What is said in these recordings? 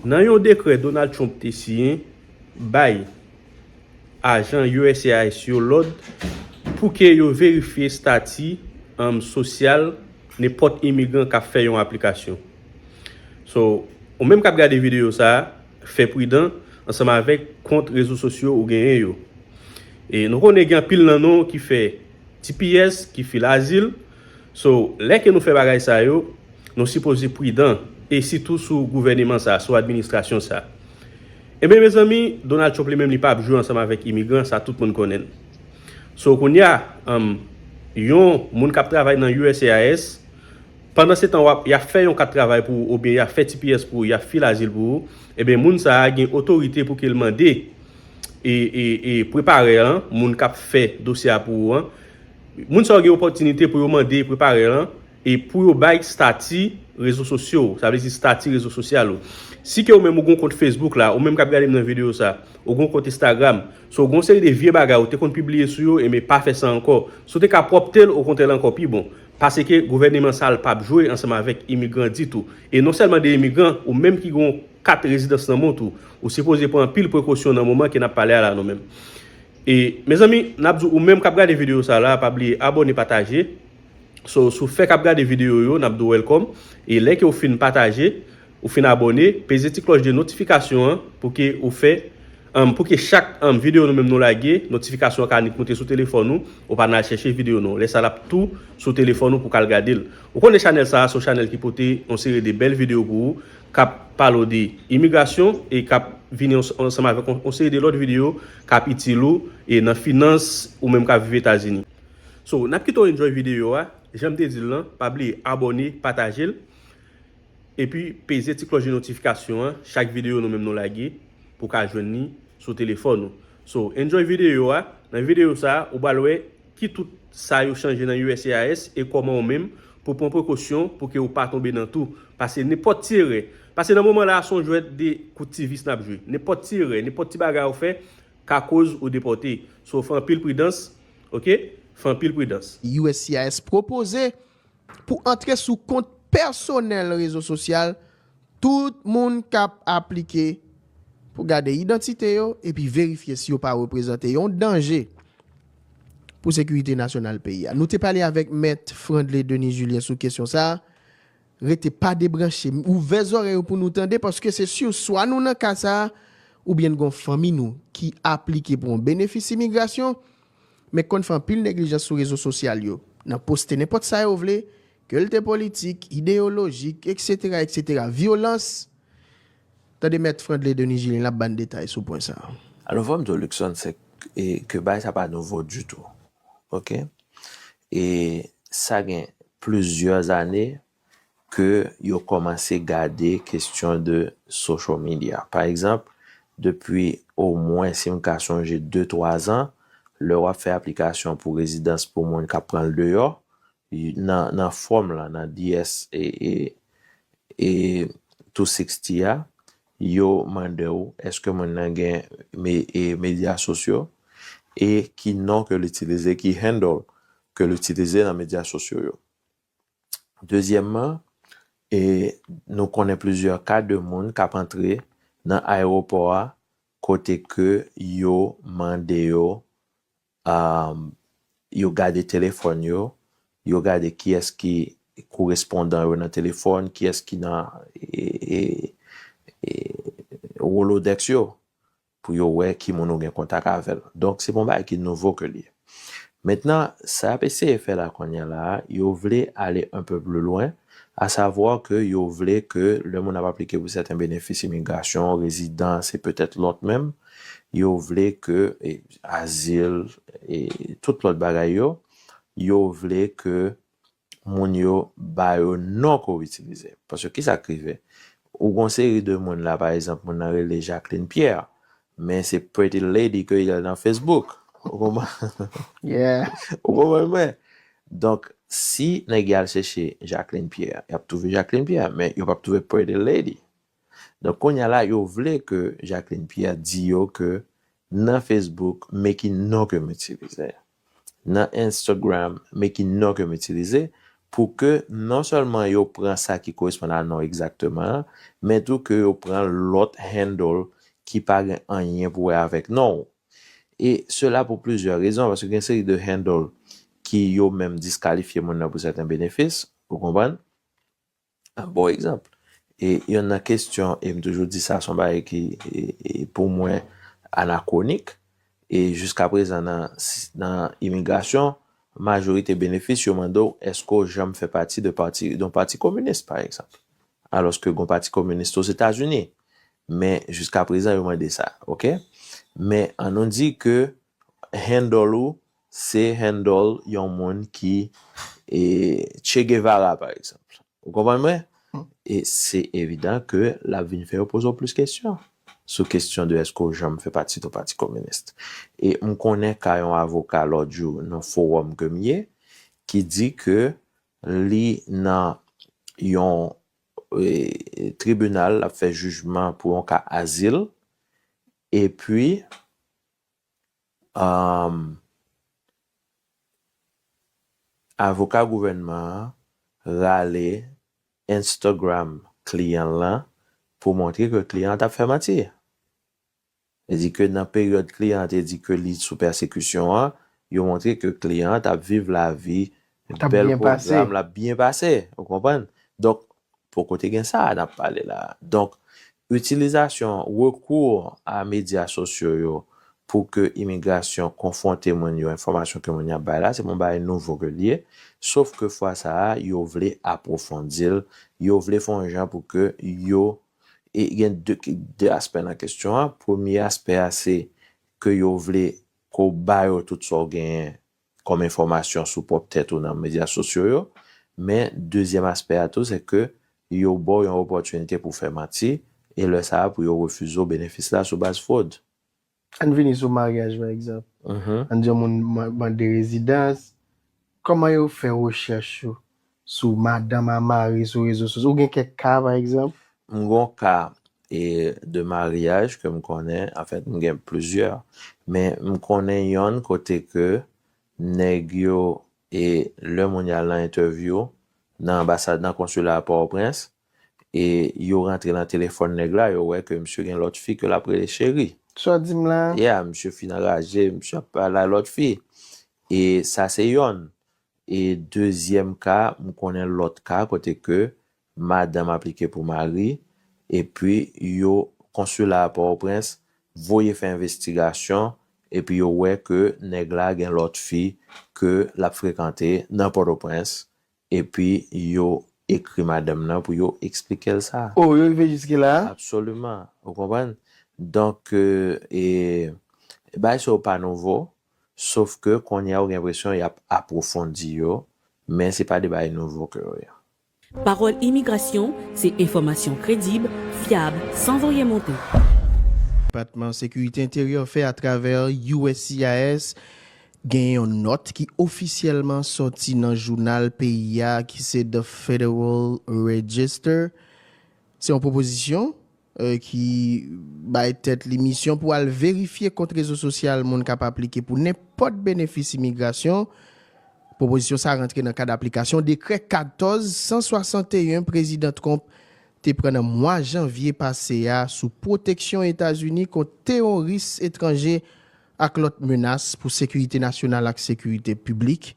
Nan yon dekrè Donald Trump te siyen bay ajan uscis yo lòd pou ke yo verifye stati sosyal nenpòt imigran kap fè yon aplikasyon. So, ou menm kap gade videyo sa, fè pridan ansanm avèk kont rezo sosyo ou genyen yo. E nou konnen gen anpil nan nou ki fè tps, ki fil azil. So, lè ke nou fè bagay sa yo, nou sipoze pridan, e sitou sou gouvèneman sa, sou administrasyon sa. Enben mezanmi, Donald Trump li menm li pap jwe ansanm avèk imigran, sa tout moun konnen l. So, kounye a, um, yon moun kap travay nan uscis, pandan se tan wap, ya fè yon kat travay pou ou oubyen ya fè tps pou ou, ya fil azil pou ou, enben moun sa a gen otorite pou ke l mande e, e, e preparè an, moun kap fè dosye a pou ou an, Moun sa yo gen opòtinite pou yo mande prepare lan e pou yo bay stati rezo sosyo ou, sa vle di stati rezo sosyal ou. Si ke ou menm ou gon kont Facebook la, ou menm kap gade m nan video sa, ou gon kont Instagram, so gon seri de vye bagay ou te konn pibliye sou yo, enben pa fè sa ankò. Si w te ka pwòpte l, okontrè l ankò pi bon. Paseke gouvèneman sal pap jwe ansanm avèk imigran ditou. E non sèlman de imigran, ou menm ki gon kat rezidans nan mont ou, ou sipoze pran anpil prekosyon nan moman ke nap pale a la nou menm. E mezanmi nap di ou menm kap gade video sa la pa bliye abone pataje so sou fèk ap gade video yo nap di w wèlkòm e lè ke ou fin pataje ou fin abone peze ti klòch de notifikasyon an pou ke ou fè anm pou ke chak anm video nou menm nou lage notifikasyon an ka annik moute sou telefòn ou ou pa nan al chèche video nou lè sa lap tou sou telefòn ou pou kal gade l ou konnen chanèl sa a son chanèl ki pote yon seri de bèl video pou ou. kap pale w de imigrasyon e kap vini ansanm avèk yon seri de lòt videyo kap itil ou e nan finans ou menm kap viv etazini. So nap kite w enjoy videyo a, janm te di l lan pa bliye abòne pataje l epi peze ti klòch de notifikasyon an chak videyo nou menm nou lage pou w ka jwenn li sou telefòn ou. So enjoy videyo a, nan videyo sa ou pral wè. Ki tout sa yo chanje nan uscis e koman ou menm pou pran prekosyon pou ke ou pa tonbe nan tou. Pase nenpot ti erè. Pase nan moman la son jwèt de kout ti vis nap jwe. Nenpot ti erè, nenpot ti bagay ou fè ka koz ou depote. So fè anpil pridans ok. Fè anpil pridans. Uscis pwopoze pou antre sou kont pèsonèl rezo sosyal Tout moun kap aplike pou gade idantite yo epi verifye si yo pa reprezante yon danje pou sekirite nasyonal peyi a. Nou te pale avèk Mèt Frandley Denis Julien sou kesyon sa a. Rete pa debranche. Ouvè zòrèy ou pou nou tande paske se sur swa nou nan ka sa a oubyen n gon fanmi nou ki aplike pou yon benefis imigrasyon men konn fè anpil neglijans sou rezo sosyal yo nan poste nenpòt sa yo vle Ke l te politik, ideyolojik, eksetera, eksetera, vyolans, Tande Mèt Frandley Denis Julien la ban n detay sou pwen sa a. Alò fò m di w Luckson se ke bagay sa pa nouvo ditou ok e sa gen plizyè ane ke yo kòmanse gade kestyon de social media pa egzanp depi omwen si m ka sonje de twa zan lè w ap fè aplikasyon pou rezidans pou moun k ap pran l deyò Nan fòm la, nan DS e tou siksti a, yo mande ou eske moun nan gen medya sosyo e ki non ke l itilize, ki handle ke l itilize nan medya sosyo yo. Dezyèmman, nou konnen plizyè ka de moun k ap antre nan ayewopò a kote ke yo mande yo yo gade telefòn yo, yo gade kiyès ki korespondan yo nan telefòn, kiyès ki nan Rolodex yo, pou yo wè ki moun ou gen kontak avè l. Donk, se pa yon bagay ki nouvo ke l ye. Mentnan, sa y ap eseye fè la kounye a la a, yo vle ale un peu plus loin, à savoir ke yo vle ke lè moun ap aplike pou sèten benefis imigrasyon, rezidans e petèt lòt menm, Yo vle ke azil e tout lòt bagay yo, yo vle ke moun yo ba yo non ke w itilize. Paske ki sa k rive? Ou gen yon seri de moun la, pa egzanp, moun nan rele Jacqueline Pierre, men se Pretty Lady ke li nan Facebook. Ou konprann mwen? Donk, si nèg y al chèche Jacqueline Pierre, y ap twouve Jacqueline Pierre, men yo p ap twouve Pretty Lady. Donk kounya la yo vle ke Jacqueline Pierre di yo ke nan Facebook me ki non ke m itilize, nan Instagram me ki non ke m itilize pou ke non sèlman yo pran sa ki koresponn a non egzakteman an men tou ke yo pran lòt handle ki pa gen anyen pou wè avèk non ou. E sela pou plizyè rezon paske gen seri de handle ki yo menm diskalifye moun nan pou sèten benefis, ou konprann? An bon egzanp, yonn nan kestyon, e m toujou di sa, son bagay ki pou mwen anakwonik, e jiskaprezan nan imigrasyon, majorite benefis yo mande w eske w janm fè pati de pati, de yon pati kominis pa egzanp. Alòske gon pati kominis tou Ozetazini. Men jiskaprezan yo mande sa. Ok? Men an nou di ke handle ou Se handle yon moun ki e Che Guevara pa egzanp. Ou konprann mwen? E se evidan ke l ap vin fè yo poze w plis kesyon sou kesyon de èske w janm fè pati doun pati kominis. E m konnen ka yon avoka lòt jou nan fowòm ke m ye ki di ke li nan yon e tribinal l ap fè jijman pou yon ka azil epi Humm avoka gouvènman an rale Instagram kliyan l lan pou montre ke kliyan an t ap fè manti. Li di ke nan peryòd kliyan an te di ke li sou pèsekisyon an, yo montre ke kliyan an t ap viv lavi bèl pwogram, l ap byen pase. Ou konprann? Donk, Poko te gen sa a n ap pale la a. Donk, itilizasyon, rekou a medya sosyo yo pou ke imigrasyon konfwonte moun yo enfòmasyon ke moun yo ap bay la, se pa yon bagay nouvo ke l ye, sof ke fwa sa a, yo vle apwofondi l, yo vle fè yon jan pou ke yo, e gen de, de aspè nan kesyon an, premye aspè a se ke yo vle ke w ba yo tout sa w genyen kòm enfòmasyon sou pwòp tèt ou nan medya sosyo yo, men dezyèm aspè a tou se ke yo ba w yon opòtinite pou w fè manti e lè sa a pou yo refize w benefis la sou baz fwod. Ann vini sou maryaj pa egzanp. Ann di yon moun mande rezidans, kòman yo fè rechèch yo Sou madanm a mari sou rezo sosyo. Ou gen kèk ka pa egzanp? M gon ka de maryaj ke m konnen, anfèt m gen plizyè, men m konnen yonn kote ke nèg yo e lè moun yal nan entèvyou nan anbasad nan konsila a Pòtoprens e yo rantre nan telefòn nèg la yo wè ke misye gen lòt fi ke lap rele cheri. Sa w di m la? Yeah, misye fin anraje, misye ap pale a lòt fi e sa se yonn. E dezyèm ka, m konnen lòt ka kote ke madanm aplike pou mari, epi yo, konsila a Pòtoprens voye fè envestigasyon, epi yo wè ke nèg la gen lòt fi ke l ap frekante nan Pòtoprens, epi yo ekri madanm nan pou yo eksplike l sa. O, yo rive jiske la? Absoliman. Ou konprann? Donk, e, bagay sa yo pa nouvo. sof ke kounye a ou gen enpresyon y ap apwofondi yo, men se pa de bagay nouvo ke yo ye. Pawòl imigrasyon se enfòmasyon kredib, fyab, san voye monte. Depatman Sekirite Enteryè fè atravè uscis genyen yon nòt ki ofisyèlman sòti nan jounal peyi a ki se The Federal Register. Se yon pwopozisyon ki bay tèt li misyon pou al verifye kont rezo sosyal moun kap aplike pou nenpòt benefis imigrasyon. Pwopozisyon sa rantre nan kad aplikasyon dekrè 14 161 Prezidan Trump te pran nan mwa janvye pase a sou pwoteksyon Etazini kont teworis etranje ak lòt menas pou sekirite nasyonal ak sekirite piblik.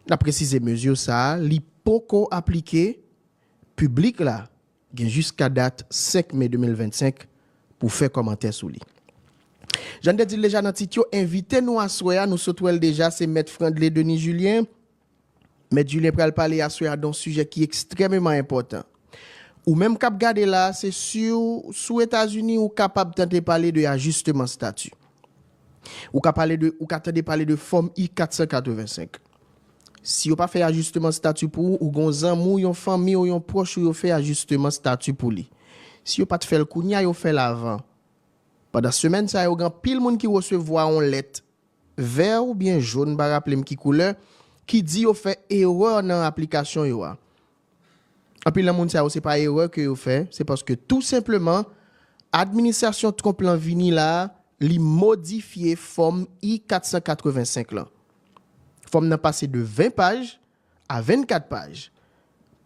N ap presize mezi sa li poko aplike piblik la. gen jiska dat 5 me 2025 pou fè kòmantè sou li. Jan n te di l deja nan tit yo, envite nou aswè a, nou sot wè l deja, se Mèt Frandley Denis Julien. Mèt Julien pral pale aswè a don sijè ki ekstrèmeman enpòtan. Ou menm k ap gade la a, se siw sou Etazini, ou kapab tante pale de ajisteman stati. Ou ka pale de, ou ka tande pale de Fòm I-485. Si yo pa fè ajisteman stati pou ou, ou gen yon zanmi ou, yon fanmi ou, yon pwòch ou yo fè ajisteman stati pou li. Si yo pa t fè l kounye a, yo fè l avan. Pandan semèn sa yo, gen anpil moun ki resevwa yon lèt, vè oubyen jón, m pa raple m ki koulè, ki di yo fè erè nan aplikasyon yo a. Anpil nan moun sa yo se pa erè ke yo fè, se paske tou senpleman administrasyon Trump lan vini la a, li modifye Fòm I-485 lan. Fòm nan pase de 20 paj a 24 paj.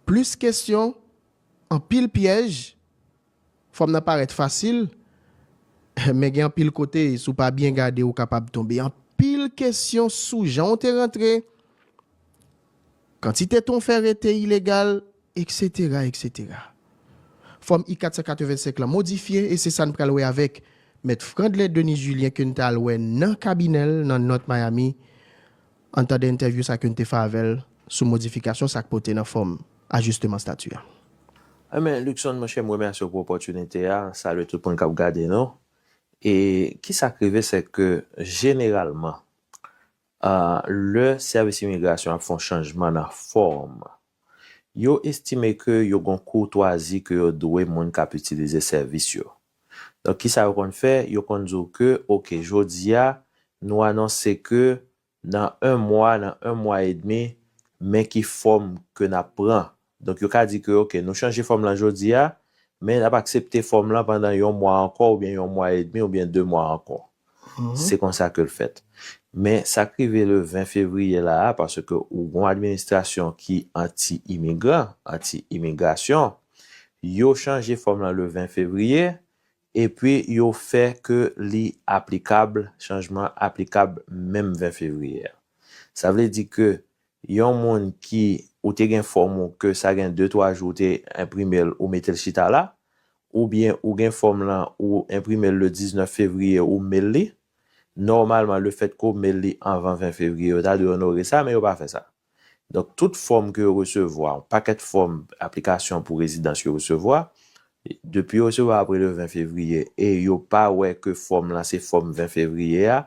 Plis kesyon, anpil pyèj, Fòm nan parèt fasil, men gen anpil kote, si w pa byen gade ou kapab tonbe anpil kesyon sou jan w te rantre, kantite tan w fè rete ilegal, eksetera, eksetera. Fòm I-485 lan modifye e se sa n pral wè avèk Mèt Frandley Denis Julien ke n t al wè nan kabinè l nan North Miami Ann tande entèvyou sa ke n te fè avè l sou modifikasyon sa k pote nan fòm ajisteman stati a. Amen Luckson monchè m remèsye w pou opòtinite a, salye tout moun kap gade nou e kisa k rive sè ke jeneralman lè sèvis imigrasyon ap fè yon chanjman nan fòm yo estime ke yo gon kourtwazi ke yo dwe moun kap itilize sèvis yo Donk kisa yo konn fè, yo konn di w ke ok jodi a nou anonse ke nan 1 mwa, nan 1 mwa e demi men ki fòm ke n ap pran. Donk yo ka di ke ok nou chanje fòm lan jodi a men n ap aksepte fòm lan pandan yon mwa ankò oubyen yon mwa e demi oubyen 2 mwa ankò. Se konsa ke l fèt. Men sa k rive le 20 fevriye la a, paske ou gon administrasyon ki anti imigran, anti imigrasyon, yo chanje fòm lan le 20 fevriye, epi yo fè ke li aplikab, chanjman an aplikab menm 20 fevriye a. Sa vle di ke Yon moun ki ou te gen fòm ou ke sa gen 2 3 jou ou te enprimel ou metel chita la oubyen ou gen fòm lan ou enprimel le 19 fevriye ou mail li nòmalman le fèt ke w mail li anvan 20 fevriye yo ta dwe onore sa men yo pa fè sa donk tout fòm ke yo resevwa yon pakèt fòm aplikasyon pou rezidans yo resevwa depi yo resevwa apre le 20 fevriye e yo pa wè ke fòm lan se fòm 20 fevriye a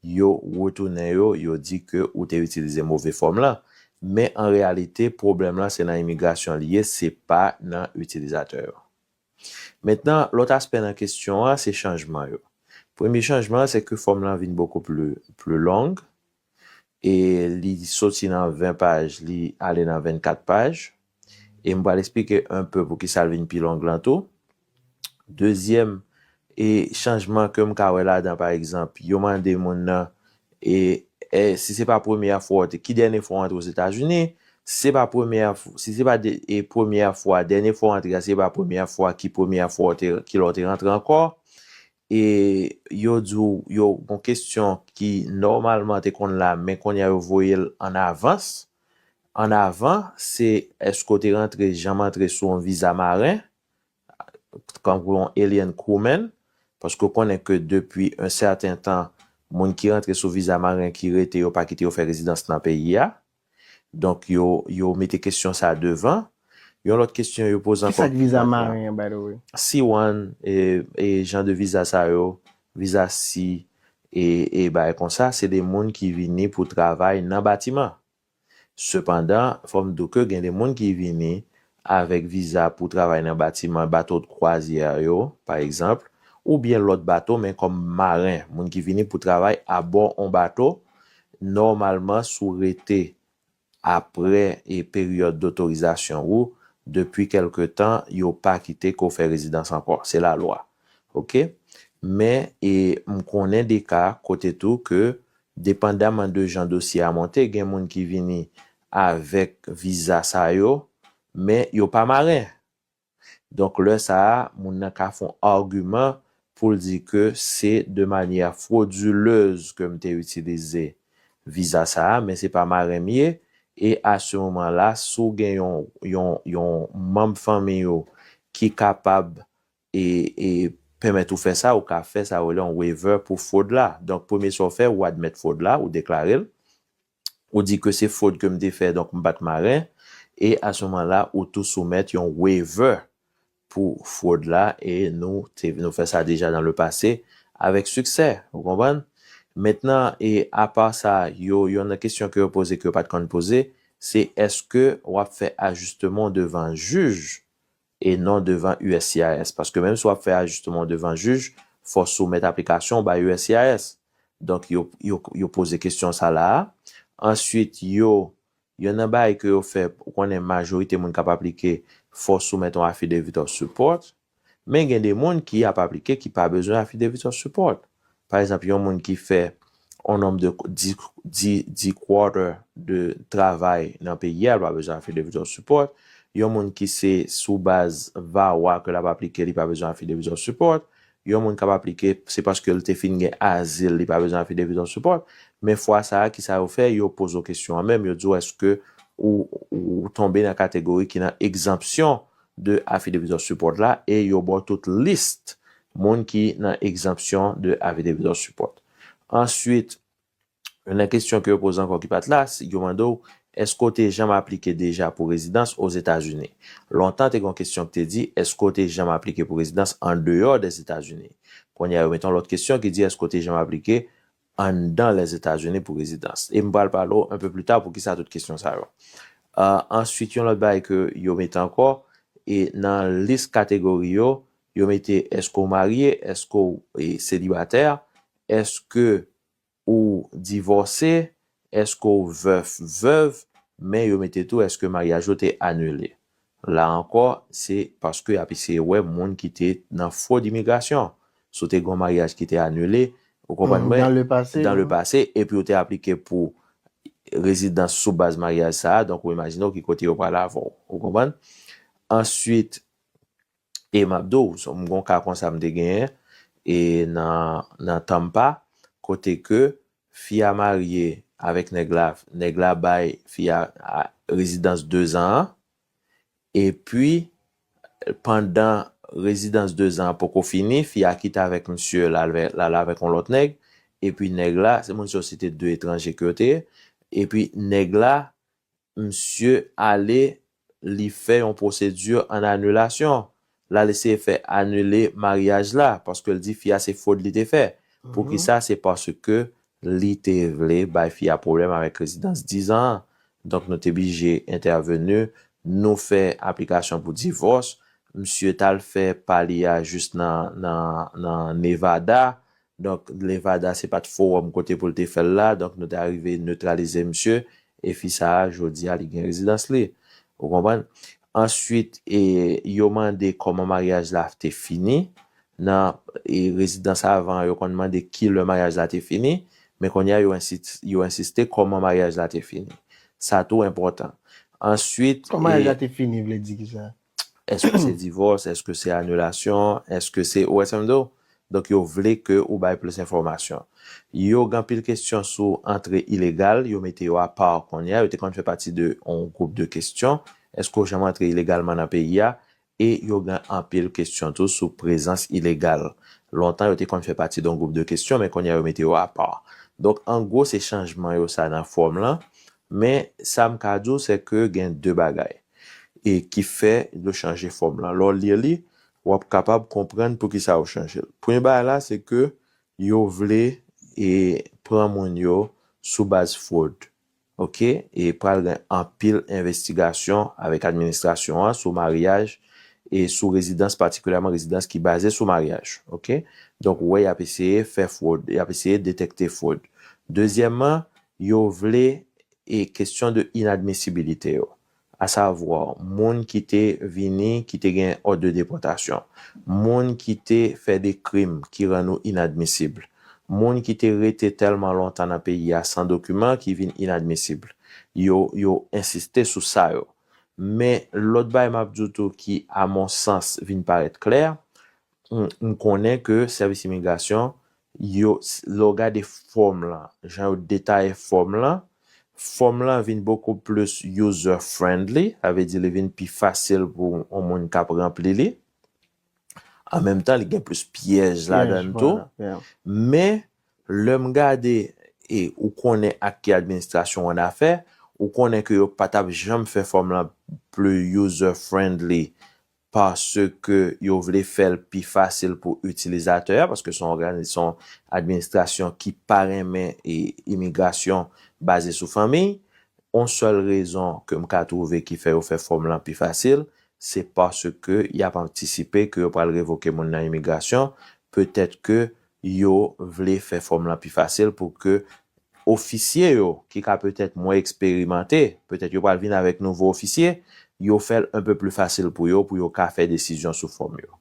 Yo retounen yo, yo di ke ou te itilize move fòm lan. Men an reyalite, pwoblèm lan se nan imigrasyon li ye, se pa nan itilizatè yo. Mentnan, lòt aspè nan kestyon an, se chanjman yo. Premye chanjman an, se ke fòm lan vin bokou pli, pli long, e li soti nan 20 paj, li ale nan 24 paj. E m pral esplike un peu poukisa l vin pi long lan tou. Dezyèm e chanjman ke m ka wè ladan pa egzanp yo mande moun nan e è si se pa premyè fwa w te ki dènye fwa w antre Ozetazini, si se pa premyè si se pa de e premyè fwa dènye fwa w antre a si se pa premyè fwa ki premyè fwa w te ki lè w te rantre ankò. E yo di w yo gon kesyon ki nòmalman te konn la men kounye a yo voye l an avans. An avan se èske w te rantre janm antre sou yon viza maren, tankou yon alien crewman, paske w konnen ke depi yon sèten tan moun ki rantre sou viza maren ki rete yo pa kite yo fè rezidans nan peyi a. Donk yo yo mete kesyon sa devan. Yon lòt kesyon yo poze ankò. Kisak viza maren an by the way? Si one e jan de viza sa yo, viza si e e bagay konsa se de moun ki vini pou travay nan batiman. Sepandan fòm di w ke gen de moun ki vini avèk viza pou travay nan batiman, bato de kwazyè yo, pa egzanp, oubyen lòt bato men kòm maren, moun ki vini pou travay abò on bato, nòmalman si w rete aprè e peryòd dotorizasyon ou depi kèlke tan yo pa kite ke w fè rezidans ankò, se lalwa ok. Men e m konnen de ka kote tou ke depandaman de jan dosye a monte gen moun ki vini avèk viza sa yo men yo pa maren donk lè sa a moun nan ka fon argument poul di ke se de manière frauduleuse ke m te itilize viza sa a men se pa maren m ye e a se moman la si w gen yon yon yon manb fanmiy ou ki kapab e e pèmèt ou fè sa ou ka fè sa yo rele yon waiver pou fraud la donk premye sa w fè ou admèt fraud la ou deklare l Ou di ke se fwod ke m te fè donk m pa t maren e a se moman la ou tou soumèt yon waiver pou fwod la e nou te nou fè sa deja dan le pase avèk siksè ou konprann. Mentnan e apa sa yo yon nan kesyon ke yo poze ke yo pa t konn poze se èske w ap fè ajistemon devan jij e non devan uscis paske menm si wap fè ajisteman w devan jij fò w soumèt aplikasyon w bay uscis donk yo yo poze kesyon sa la a answit yo yonn nan bagay ke yo fè ou konnen majorite moun kap aplike fò w soumèt yon affidavit of support men gen de moun ki ap aplike ki pa bezwen affidavit of support Pa ezanp yon moun ki fè yon nonb de di quarter de travay nan peyi a, l pa bezwen affidavit of support. Yon moun ki se sou baz VAWA ke l ap aplike li pa bezwen affidavit of support. Yon moun k ap aplike se paske l te fin gen azil li pa bezwen affidavit of support. Men fwa sa a kisa yo fè, yo poze w kesyon an menm, yo di w eske ou tonbe nan kategori ki nan egzanpsyon de Affidavit of Support la e yo ba w tout list moun ki nan Exemption de Affidavit of Support. Answit, youn nan kestyon ke yo poze ankò ki pa t la, se yo mande w, Eske w te janm aplike deja pou rezidans Ozetazini? Lontan te gen yon kestyon ki te di, Eske w te janm aplike pou rezidans andeyò dèzetazini? Kounye a yo mete yon lòt kestyon ki di, Eske w te janm aplike anndan Lèzetazini pou rezidans. E m pral pale w anpe pli ta pou kisa tout kesyon sa yo. Answit yon lòt bagay ke yo mete ankò, e nan lis kategori yo, yo mete èske w marye, èske w selibatè, èske ou divòse, Eske w veuf, veuve, men yo mete tou eske maryaj ou te anile. La ankò, se paske y ap eseye wè moun ki te nan fwod imigrasyon. Si w te gen yon maryaj ki te anile, ou konprann mwen, dan le pase, epi ou te aplike pou rezidans sou baz maryaj sa a, donk ou imajine w ki kote yo pral avè w. Ou konprann? Answit, E map di w, m gon ka konsa m te genyen e nan nan Tampa kote ke fi a marye avèk nèg la, nèg la bay fi a rezidans 2 zan an epi pandan rezidans 2 zan an poko fini fi a kite avèk misye l al l al avèk yon lòt nèg epi nèg la se moun se yon se te 2 etranje ke yo te ye epi nèg la Msye ale li fè yon pwosedi an anilasyon. Lal eseye fè anile maryaj la paske l di fi a se fwod li te fè. Poukisa se paske li te vle bay fi a pwoblèm avèk rezidans 10 zan an. Donk nou te bije entèveni, nou fè aplikasyon pou divòs. Msye tal fè pa li a jis nan Nevada Donk Nevada se pat forum kote pou l te fè l la, donk nou te arive neutralize misye, e fi sa a jodi a li gen rezidans li. Ou konprann? Answit e yo mande koman maryaj la te fini, nan e rezidans avan an yo konn mande ki lè maryaj la te fini, men kounye a yo ensi yo ensiste koman maryaj la te fini. Sa tou enpòtan. Answit Koman maryaj e la te fini vle di ki sa? Eske se divòs, eske se anilasyon, eske se, ou wè sa m di w? Donk yo vle ke ou bay plis enfòmasyon. Yo gen anpil kesyon sou antre ilegal, yo mete yo apa kounye a, yo te konn fè pati de yon gwoup de kesyon, eske w janm antre ilegalman nan peyi a? E yo gen anpil kesyon tou sou prezans ilegal. Lontan yo te konn fè pati de yon gwoup de kesyon men kounye a yo mete yo apa. Donk an gwo se chanjman yo sa nan fòm lan, Men sa m ka di w se ke gen de bagay e ki fè yo chanje fòm lan. Lè w li li, w ap kapab konprann pou ki sa yo chanje l. Premye bagay la se ke yo vle e pran moun yo sou baz fwod. Ok, e pral gen anpil envestigasyon avèk administrasyon an sou maryaj e sou rezidans patikilyèman rezidans ki baze sou maryaj. Ok, donk ou wè y ap eseye fè fwod, y ap eseye detekte fwod. Dezyèmman, Yo vle e kesyon de inadmisibilite yo, a savwa moun ki te vini ki te gen òd de depòtasyon, moun ki te fè de krim ki rann ou inadmisib, moun ki te rete tèlman lontan nan peyi a san dokiman ki vin inadmisib. Yo, yo ensiste sou sa yo. Men lòt bagay m ap di w tou ki a mon sans vin parèt klè, m konnen ke sèvis imigrasyon Yo, lè w gade fòm lan, jan yo detaye fòm lan, fòm lan vin bokou plis user friendly, sa vle di li vin pi fasil pou yon moun k ap ranpli li. An menm tan li gen plis pyèj ladann tou. Men, lè m gade, e ou konnen ak ki administrasyon w ann afè, ou konnen ke yo pa t ap janm fè fòm lan plis user friendly paske yo vle fè l pi fasil pou itilizatè a, paske se yon administrasyon ki pa renmen imigrasyon baze sou fanmi, yon sèl rezon ke m ka twouve ki fè yo fè fòm lan pi fasil, se paske y ap antisipe ke yo pral revoke moun nan imigrasyon, petèt ke Yo vle fè fòm lan pi fasil pou ke ofisye yo ki ka petèt mwen eksperimante, petèt yo pral vin avèk nouvo ofisye, yo fè l enpe pli fasil pou yo pou yo ka fè desizyon sou fòm yo.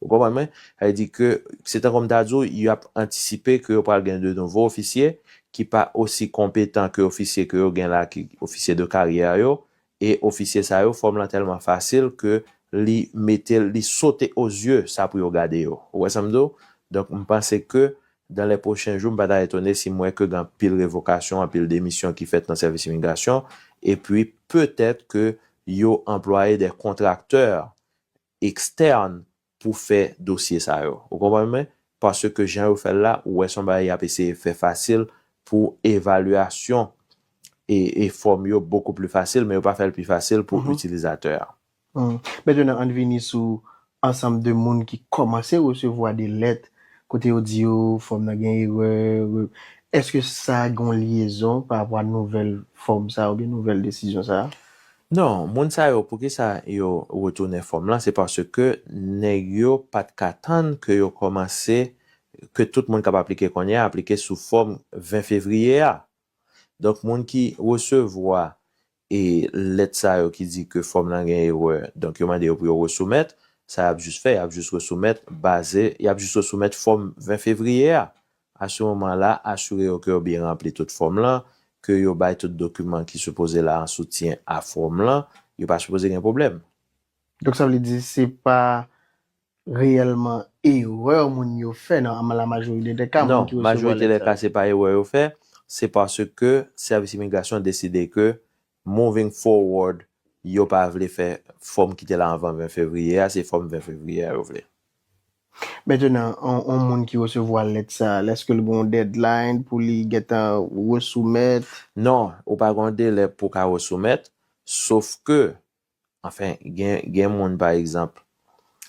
Ou konprann mwen? Sa vle di ke se tankou m ta di w y ap antisipe ke yo pral gen de nouvo ofisye ki pa osi konpetan ke ofisye ke yo gen la ki ofisye de karyè yo E ofisye sa yo fòm lan tèlman fasil ke li metel li sote o zye sa pou yo gade yo ou wè sam di w donk m panse ke dan lè pwochen jou m pa ta etone si m wè ke gen anpil revokasyon anpil demisyon ki fèt nan sèvis imigrasyon epi petèt ke yo anplwaye dè kontraktè ekstèn pou fè dosye sa yo. Ou konprann mwen? Paske jan yo fè l la, ou wè se yon bagay y ap eseye fè fasil pou evalyasyon e e fòm yo bokou pli fasil, men yo pa fè l pi fasil pou itilizatè a. Mentnan ann vini sou ansanm de moun ki kòmanse resevwa de lèt kote yo di yo fòm nan gen erè, èske sa gen yon lyezon parapò a nouvèl fòm sa a oubyen nouvèl desizyon sa a? Non, moun sa yo poukisa yo retounen fòm lan se paske nèg yo pa t ka tann ke yo kòmanse ke tout moun k ap aplike kounye a aplike sou fòm 20 fevriye a. Donk moun ki resevwa e lèt sa yo ki di ke fòm lan gen erè donk yo mande yo pou yo resoumèt, sa y ap jis fè y ap jis resoumèt baze y ap jis resoumèt fòm 20 fevriye a A sou moman la, asure yo ke yo byen ranpli tout fòm lan, ke yo bay tout dokiman ki sipoze la an soutyen a fòm lan, yo pa sipoze gen pwoblèm. Donk sa vle di se pa reyèlman erè moun yo fè nan an la majorite dè ka moun ki resevwa lèt sa yo. Non, majorite dè ka se pa erè yo fè, se paske sèvis imigrasyon deside ke Moving forward, yo pa vle fè fòm ki te la anvan 20 fevriye a, se fòm 20 fevriye a yo vle. Mentenan, yon moun ki resevwa lèt sa, èske l gen yon deadline pou li gentan resoumèt? Non, ou pa gen yon delè pou w ka resoumèt, sof ke Anfen, gen moun pa egzanp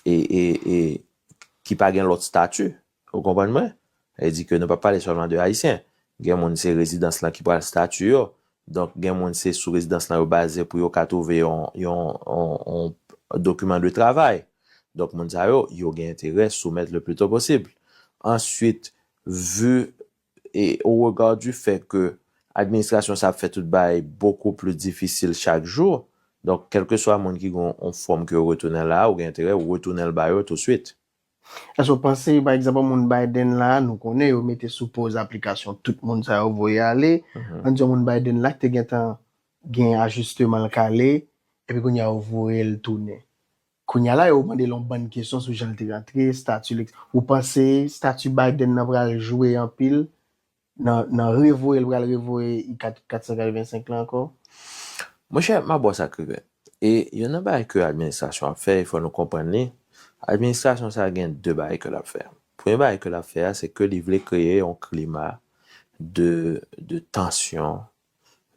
ki pa gen lòt stati, ou konprann mwen? Sa vle di ke nou pa pale sèlman de Ayisyen. Gen moun se rezidans lan ki pral stati yo. Donk gen moun se sou rezidans lan yo baze pou yo ka twouve yon dokiman de travay. Donk moun sa yo, yo gen enterè soumèt le pli to posib. Answit, vu E o rega di fè ke administrasyon sa ap fè tout bagay bokou pli difisil chak jou, donk kèlkeswa moun ki gen yon fòm ke yo retounen l la a, ou gen enterè ou retounen l ba yo touswit. Èske ou panse, pa egzanp, moun Biden la a, nou konnen yo mete sou poz aplikasyon tout moun sa yo voye ale, ann di yon moun Biden la a ki te gentan gen ajisteman l kale, epi kounye a yo voye l tounen. Kounya la yo mande l yon bann kesyon sou jan l te rantre, stati l etc. Ou panse stati Biden nan pral jwe anpil nan nan revoye l pral revoye I 485 lan ankò? Monchè, m ap ba w sa k rive. E yonn nan bagay ke administrasyon an ap fè, e fò nou konprann li, administrasyon sa a gen de bagay ke l ap fè. Premye bagay ke l ap fè a, se ke li vle kreye yon klima de de tansyon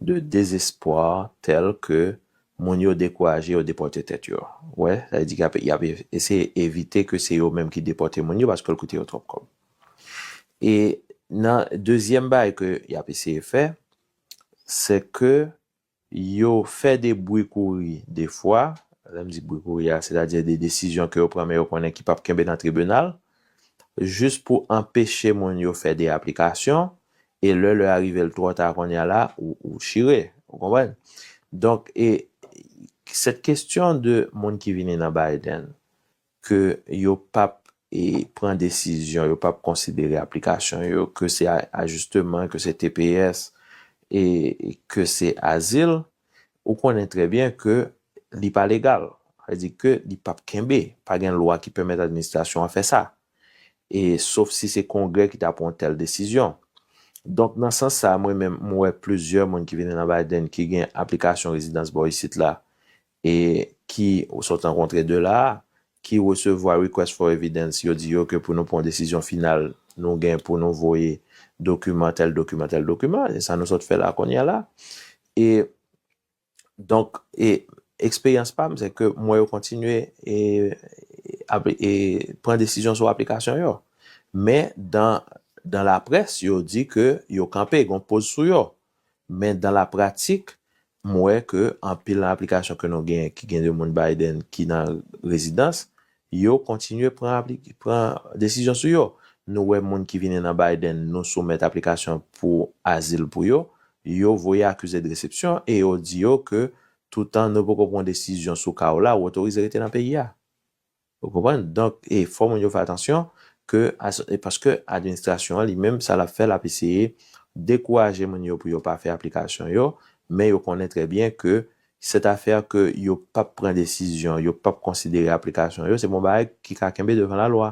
de dezespwa tèl ke moun yo dekouraje yo depòte tèt yo. Wè, sa vle di ke y ap eseye evite ke se yo menm ki depòte moun yo paske l koute yo twòp kòb. E nan dezyèm bagay ke y ap eseye fè, se ke yo fè de bwi kouri defwa, lè m di bwi kouri a, sètadi de desizyon ke yo pran men yo konnen ki p ap kenbe nan tribinal, jis pou anpeche moun yo fè de aplikasyon E lè lè a rive l twò ta konnya la ou chire. Ou konprann? Donk e cette question de moun ki vini nan Biden ke yo pap e pran desizyon, yo pap konsidere aplikasyon yo, ke se ajisteman, ke se tps e ke se azil, ou konnen trè byen ke li pa legal. Sa vle di ke li pap kenbe. Pa gen lwa ki pèmèt administrasyon an fè sa. e sof si se Kongrè ki ta pran yon tèl desizyon. Donk nan sans sa a mwen menm m wè plizyè moun ki vini nan Biden ki gen aplikasyon rezidans bò isit la e ki ou sot rankontre de la a ki resevwa request for evidence yo di yo ke pou nou pran yon desizyon final nou gen pou nou voye dokiman tèl dokiman tèl dokiman e sa nou sot fè la a kounye a la e Donk, eksperyans pa m se ke m wè yo kontinye pran desizyon sou aplikasyon yo. Men, dan laprès, yo di ke yo kanpe, gon poz sou yo. Men, dan la pratik, m wè ke anpil nan aplikasyon ke nou gen, ki gen de moun Biden ki nan rezidans, Yo kontinye pran pran desizyon sou yo. Nou wè moun ki vini nan Biden nou soumèt aplikasyon pou azil pou yo, yo voye akize de resepsyon e yo di yo ke toutan nou poko pran desizyon sou ka w la ou otorize rete nan peyi a. Ou konprann? Donk e fò moun yo fè atansyon ke as e paske administrasyon an li menm sa l ap fè l ap eseye dekouraje moun yo pou yo pa fè aplikasyon yo men yo konnen trè byen ke Cette affaire que yo pap pran desizyon, yo pap konsidere aplikasyon yo, se bon bagay ki ka kenbe devan la loi.